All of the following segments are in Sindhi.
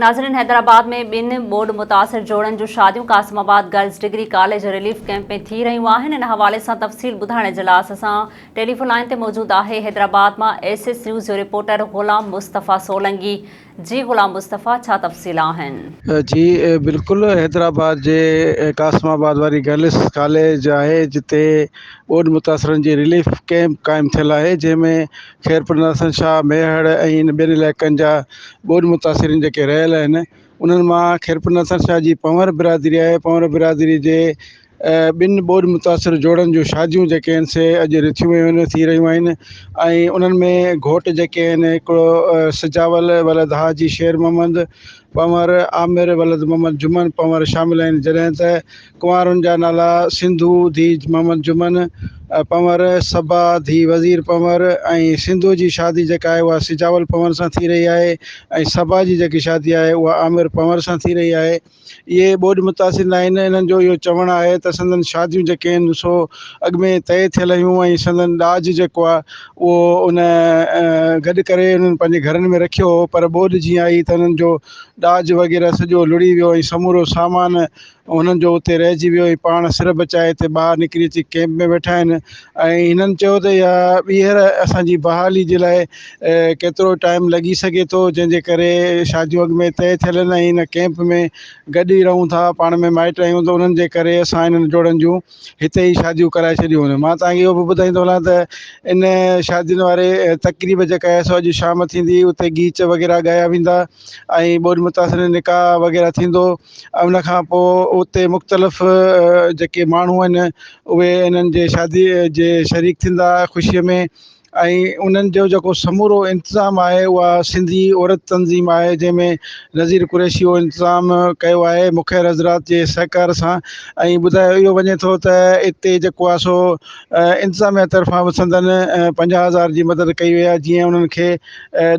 ناظرين حيدرآباد ۾ ٻن ٻوڏ متاثر جوڙن جون شاديون Qasimabad girls degree college relief camp ۾ ٿي رهيون آهن ان حوالي سان تفصيل ٻڌائڻ اجلاس سان ٽيليفون لائين تي موجود آهي حيدرآباد مان ايس ايس نيوز جو رپورٽر غلام مصطفيٰ سولنگي جي غلام مصطفيٰ ڇا تفصيل آهن. جي بلڪل حيدرآباد جي قاسم آباد واري گرلس ڪاليج آهي جتي ٻوڏ متاثرن جي رليف ڪئمپ قائم ٿيل آهي جنهن ۾ خيرپور ناصر شاهه ميهڙ ۽ ان ٻين علائقن جا ٻوڏ متاثرين جيڪي رهيل آهن انهن مان خيرپور ناصر شاهه جي پنهور برادري آهي پنهور برادري جي ٻن ٻوڏ متاثر جوڙن جون شاديون جيڪي آهن سي اڄ رٿيون ويون آهن ٿي رهيون آهن ۽ انهن ۾ گهوٽ جيڪي آهن هڪڙو سجاول ولد حاجي شير محمد پنهور عامر ولد محمد جمن پنهور شامل آهن جڏهن ته ڪنوارن جا نالا سنڌو ڌيء محمد جمن پنور، صبا ڌيء وزير پنور ۽ سنڌو جي شادي جيڪا آهي اها سجاول پنور سان ٿي رهي آهي ۽ صبا جي جيڪي شادي آهي اها عامر پنور سان ٿي رهي آهي. اهي ٻوڏ متاثر ناهن، انهن جو اهو چوڻ آهي ته سندن شاديون جيڪي آهن سو اڳ ۾ طئي ٿيل هيون ۽ سندن ڏاج جيڪو آهي اهو ان گڏ ڪري انهن پنهنجي گهرن ۾ رکيو هو پر ٻوڏ جيئن آئي ته انهن جو ڏاج وغيره سڄو لڙهي ويو ۽ سمورو سامان انهن جو اتي رهجي ويو هي پاڻ سر بچائي هتي ٻاهر نڪري اچي ڪئمپ ۾ ويٺا آهن ۽ هنن چيو ته اها ٻيهر اسان جي بحالي جي لاء ڪيترو ٽائيم لڳي سگهي ٿو جنهن جي ڪري شاديون اڳ ۾ طئي ٿيل آهن ۽ هن ڪئمپ ۾ گڏ ئي رهون ٿا پاڻ ۾ مائٽ آهيون ته انهن جي ڪري اسان هنن جوڙن جون هتي ئي شاديون ڪرائي ڇڏيون مان توهان کي اهو به ٻڌائيندو هلان ته ان شادين واري تقريب جيڪا آهي سو اڄ شام ٿيندي اتي گيچ وغيره ڳايا ويندا ۽ ٻوڏ متاثرين نڪاح وغيره ٿيندو ۽ ان کان پوء اتي مختلف جيڪي ماڻهو آهن اهي انهن جي شادي جي شريڪ ٿيندا خوشيء ۾ ۽ انهن جو جيڪو سمورو انتظام آهي اها سنڌي عورت تنظيم آهي جنهن ۾ نظير قريشي اهو انتظام ڪيو آهي مخير حضرات جي سهڪار سان ۽ ٻڌايو اهو وڃي ٿو ته اتي جيڪو آهي سو انتظاميا طرفان به سندن پنجاهه هزار جي مدد ڪئي وئي آهي جيئن انهن کي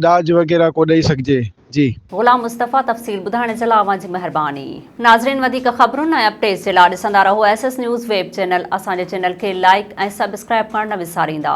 ڏاج وغيره ڪو ڏئي سگهجي جي. غلام مصطفيٰ تفصيل ٻڌائڻ جي لا اوهان جي مهرباني. ناظرين وڌيڪ خبرن ۽ اپڊيٽس جي لا ڏسندا رهو S S news web channel اسان جي چينل کي لائيڪ ۽ سبسڪرائيب ڪرڻ نه وساريندا.